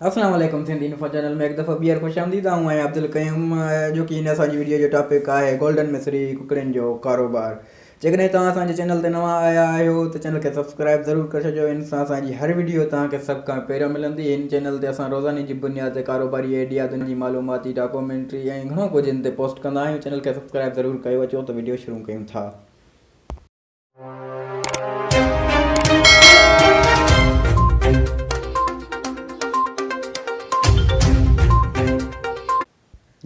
السلام عليڪم Sindhi info channel ۾ هڪ دفعو ٻيهر خوش آمديد آئون آهيان عبدالقيوم اڄوڪي هن اسان جي وڊيو جو ٽاپڪ آهي گولڊن مصري ڪڪڙين جو ڪاروبار جيڪڏهن توهان اسان جي چينل تي نوان آيا آهيو ته چينل کي سبسڪرائب ضرور ڪري ڇڏجو ان سان اسان جي هر وڊيو توهان کي سڀ کان پهريون ملندي هن چينل تي اسان روزاني جي بنياد تي ڪاروباري ايڊيا دنيا جي معلوماتي ڊاڪومينٽري ۽ گهڻو ڪجهه هن تي پوسٽ ڪندا آهيون چينل کي سبسڪرائب ضرور ڪيو اچو ته وڊيو شروع ڪيون ٿا.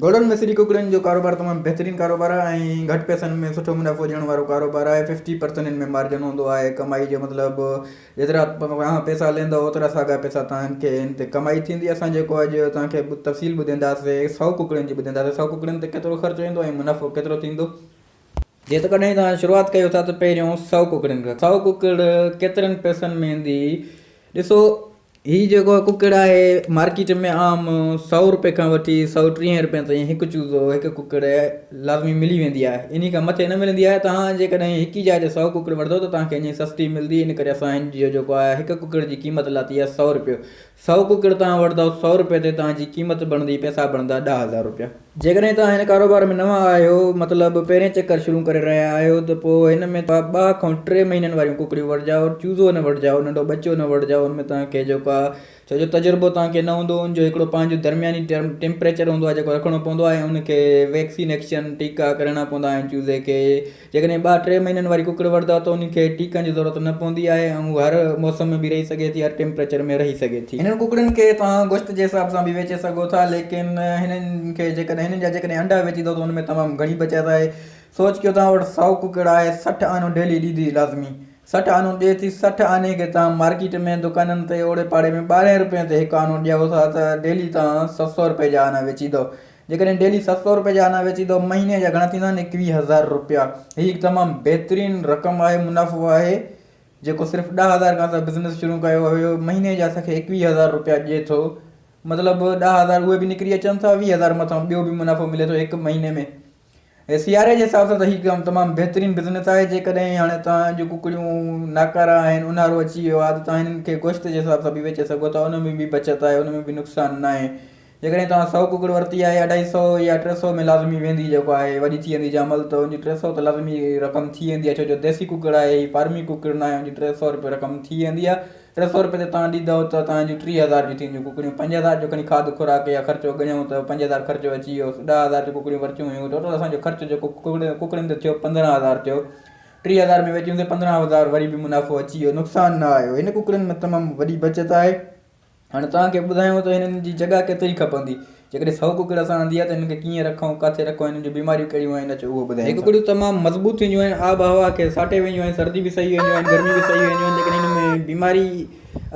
گهوڙن ۾ سري ڪڪڙين جو ڪاروبار تمام بهترين ڪاروبار آهي ۽ گهٽ پئسن ۾ سٺو منافعو ڏيڻ وارو ڪاروبار آهي ففٽي پرسنٽ ان ۾ مارجن هوندو آهي ڪمائي جو مطلب جيترا توهان پئسا ليندو اوترا ساڳا پئسا توهان کي ان تي ڪمائي ٿيندي اسان جيڪو اڄ توهان کي تفصيل ٻڌينداسي سؤ ڪڪڙين جي ٻڌينداسي سؤ ڪڪڙين تي ڪيترو خرچ ايندو ۽ منافعو ڪيترو ٿيندو جيتوڪڏهن توهان شروعات ڪيو ٿا ته پهريون سؤ ڪڪڙين کان سؤ ڪڪڙ ڪيترن پئسن ۾ ايندي ڏسو هي جيڪو ڪڪڙ آهي مارڪيٽ ۾ عام سؤ روپئي کان وٺي سؤ ٽيهين روپئين تائين هڪ چوزو هڪ ڪڪڙ لازمي ملي ويندي آهي انهي کان مٿي نه ملندي آهي توهان جيڪڏهن هڪ ئي جاء تي سؤ ڪڪڙ وٺندو ته توهان کي اڃا سستي ملندي ان ڪري اسان هن جو جيڪو آهي هڪ ڪڪڙ جي قيمت لاتي آهي سؤ روپيو سؤ ڪڪڙ توهان وٺندؤ سؤ رپئي تي توهان جي قيمت بڻندي پئسا بڻندا ڏهه هزار رپيا. جيڪڏهن توهان هن ڪاروبار ۾ نوان آهيو مطلب پهرين چڪر شروع ڪري رهيا آهيو ته پوء هن ۾ توهان ٻه کان ٽي مهينن واريون ڪڪڙيون وٺجاء چوزو نه وٺجاء ننڍو ٻچو نه وٺجاء ان ۾ توهان کي جيڪو آهي ڇو جو تجربو توهان کي نه هوندو ان جو هڪڙو پنهنجو درمياني ٽيمپريچر هوندو آهي جيڪو رکڻو پوندو آهي ان کي ويڪسين ايڪشن ٽيڪا ڪرڻا پوندا آهن چوزي کي جيڪڏهن ٻه ٽي مهينن واري ڪڪڙ وڙهدو ته انهن کي ٽيڪن جي ضرورت نه پوندي آهي ۽ هو هر موسم ۾ به رهي سگهي ٿي هر ٽيمپريچر ۾ رهي سگهي ٿي. هنن ڪڪڙين کي توهان گوشت جي حساب سان به ويچي سگهو ٿا ليڪن هنن کي جيڪڏهن هنن جا جيڪڏهن انڊا ويچيندو ته ان ۾ تمام گهڻي بچت آهي سوچ ڪيو توهان وٽ سؤ ڪڪڙ آهي سٺ آنو ڊيلي ڏيندي لازمي سٺ آنو ڏي ٿي سٺ آني کي توهان مارڪيٽ ۾ دڪانن تي اوڙي پاڙي ۾ ٻارهين روپين تي هڪ آنو ڏيو ٿا ته ڊيلي توهان سؤ سؤ روپين جا آنا ويچيندو جيڪڏهن ڊيلي ست سؤ روپيه جا انا ويچي ته مهيني جا گهڻا ٿيندا آهن ايڪويهه هزار روپيا هي هڪ تمام بهترين رقم آهي منافعو آهي جيڪو صرف ڏهه هزار کان اسان بزنس شروع ڪيو هيو مهيني جا اسان کي ايڪويهه هزار روپيا ڏئي ٿو مطلب ڏهه هزار اهي به نڪري اچن ٿا ويهه هزار مٿان ٻيو به منافعو ملي ٿو هڪ مهيني ۾ ۽ سياري جي حساب سان ته هي ڪم تمام بهترين بزنس آهي جيڪڏهن هاڻي تان جو ڪڪڙيون ناڪارا آهن اونهارو اچي ويو آهي ته تان هنن کي گوشت جي حساب سان به ويچي سگهو ٿا ان ۾ به بچت آهي ان ۾ به نقصان ناهي جيڪڏهن توهان سؤ ڪڪڙ ورتي آهي اڍائي سؤ يا ٽي سؤ ۾ لازمي ويندي جيڪو آهي وڏي ٿي ويندي جامل ته ان جي ٽي سؤ ته لازمي رقم ٿي ويندي آهي ڇو جو ديسي ڪڪڙ آهي هي فارمي ڪڪڙ ناهي ان جي ٽي سؤ رپي رقم ٿي ويندي آهي ٽي سؤ رپي ته توهان ڏيندؤ ته توهان جون ٽي هزار جون ٿي وينديون ڪڪڙيون پنج هزار جو کڻي کاڌ خوراڪ يا خرچو ڳڻيو ته پنج هزار خرچو اچي ويو ڏهه هزار جون ڪڪڙيون ورتيون هيون ٽوٽل اسان جو خرچ جيڪو ڪڪڙين تي ٿيو پندرهن هزار ٿيو ٽي هزار ۾ ويچيون ته پندرهن هزار وري به منافعو اچي ويو نقصان نه آيو هن ڪڪڙين ۾ تمام وڏي بچت آهي هاڻي توهان کي ٻڌايون ته هنن جي جڳهه ڪيتري کپندي. جيڪڏهن سؤ ڪڪڙ اسان آندي آهي ته هنن کي ڪيئن رکون، ڪاٿي رکون ۽ هنن جون بيماريون ڪهڙيون آهن اچو اهو ٻڌايون. هي ڪڪڙيون تمام مضبوط ٿينديون آهن، آب هوا کي ساٽي وينديون آهن، سردي به سهي وينديون آهن، گرمي به سهي وينديون آهن ليڪن هنن ۾ بيماري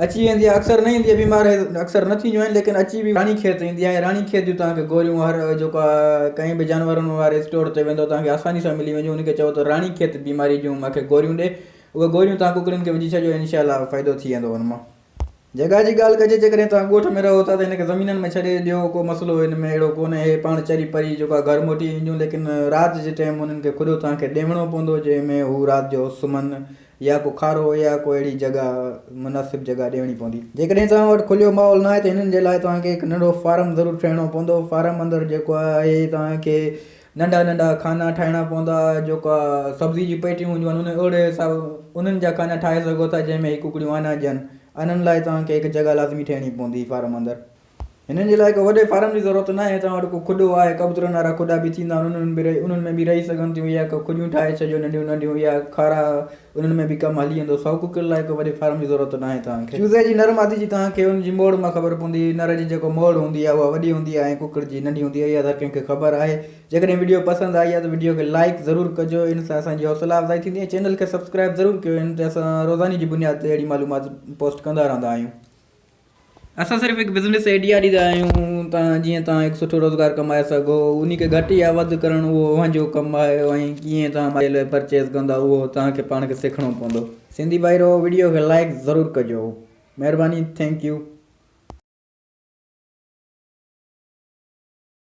اچي ويندي آهي اڪثر نه ايندي آهي بيمار اڪثر نه ٿينديون آهن ليڪن اچي به راڻي کيت ايندي آهي راڻي کيت جون توهان کي گوريون هر جيڪو آهي ڪنهن به جانورن واري اسٽور تي ويندو توهان کي آساني سان ملي وينديون ان کي چئبو ته راڻي کيت بيماري جون مون کي گوريون ڏي اهي گوريون توهان ڪڪڙين کي وجهي ڇڏجو انشاء الله فائدو ٿي ويندو ان مان. جڳهه جي ڳالهه ڪجي جيڪڏهن توهان ڳوٺ ۾ رهو ٿا ته هن کي زمينن ۾ ڇڏي ڏيو ڪو مسئلو هن ۾ اهڙو ڪونهي هي پاڻ چري پري جيڪو آهي گهر موٽي وينديون ليڪن رات جي ٽيم انهن کي کڏو توهان کي ڏيوڻو پوندو جنهن ۾ هو رات جو سمهن يا ڪو کارو يا ڪو اهڙي جڳهه مناسب جڳهه ڏيوڻي پوندي. جيڪڏهن توهان وٽ کليو ماحول ناهي ته هنن جي لاء توهان کي هڪ ننڍو فارم ضرور ٺهڻو پوندو فارم اندر جيڪو آهي توهان کي ننڍا ننڍا خانا ٺاهڻا پوندا جيڪا سبزي جي پيٽيون هونديون آهن انهن اهڙي حساب انهن جا خانا ٺاهي سگهو ٿا جنهن ۾ هي ڪڪڙيون آنا هجن انهن لاء توهان کي هڪ جڳهه لازمي ٺهڻي پوندي فارم اندر هنن جي لاء ڪو وڏي فارم جي ضرورت ناهي توهان وٽ ڪو کڏو آهي ڪبوترن وارا کڏا به ٿيندا آهن انهن ۾ به رهي انهن ۾ به رهي سگهن ٿيون يا ڪو کڏيون ٺاهي ڇڏيو ننڍيون ننڍيون يا کارا انهن ۾ به ڪم هلي ويندو. سؤ ڪڪڙين لاء ڪو وڏي فارم جي ضرورت ناهي توهان کي. چوزي جي نر مادي جي توهان کي ان جي موڙ مان خبر پوندي. نر جي جيڪو موڙ هوندي آهي اها وڏي هوندي آهي ۽ ڪڪڙ جي ننڍي هوندي آهي اها ته هر ڪنهن کي خبر آهي. جيڪڏهن وڊيو پسند آئي آهي ته وڊيو کي لائيڪ ضرور ڪجو ان سان اسان جي حوصلا افزائي ٿيندي ۽ چينل کي سبسڪرائيب ضرور ڪيو ان تي اسان روزاني جي بنياد تي اهڙي معلومات پوسٽ ڪندا رهندا آهيون. اسان صرف هڪ بزنس ائڊيا ڏيندا آهيون تان جيئن توهان هڪ سٺو روزگار ڪمائي سگهو انهي کي گهٽ يا وڌ ڪرڻ اهو اوهان جو ڪم آهي ۽ ڪيئن توهان مالي لئي پرچيز ڪندا اهو توهان کي پاڻ کي سکڻو پوندو. سنڌي ڀائرو وڊيو کي لائيڪ ضرور ڪجو مهرباني ٿينڪ يو.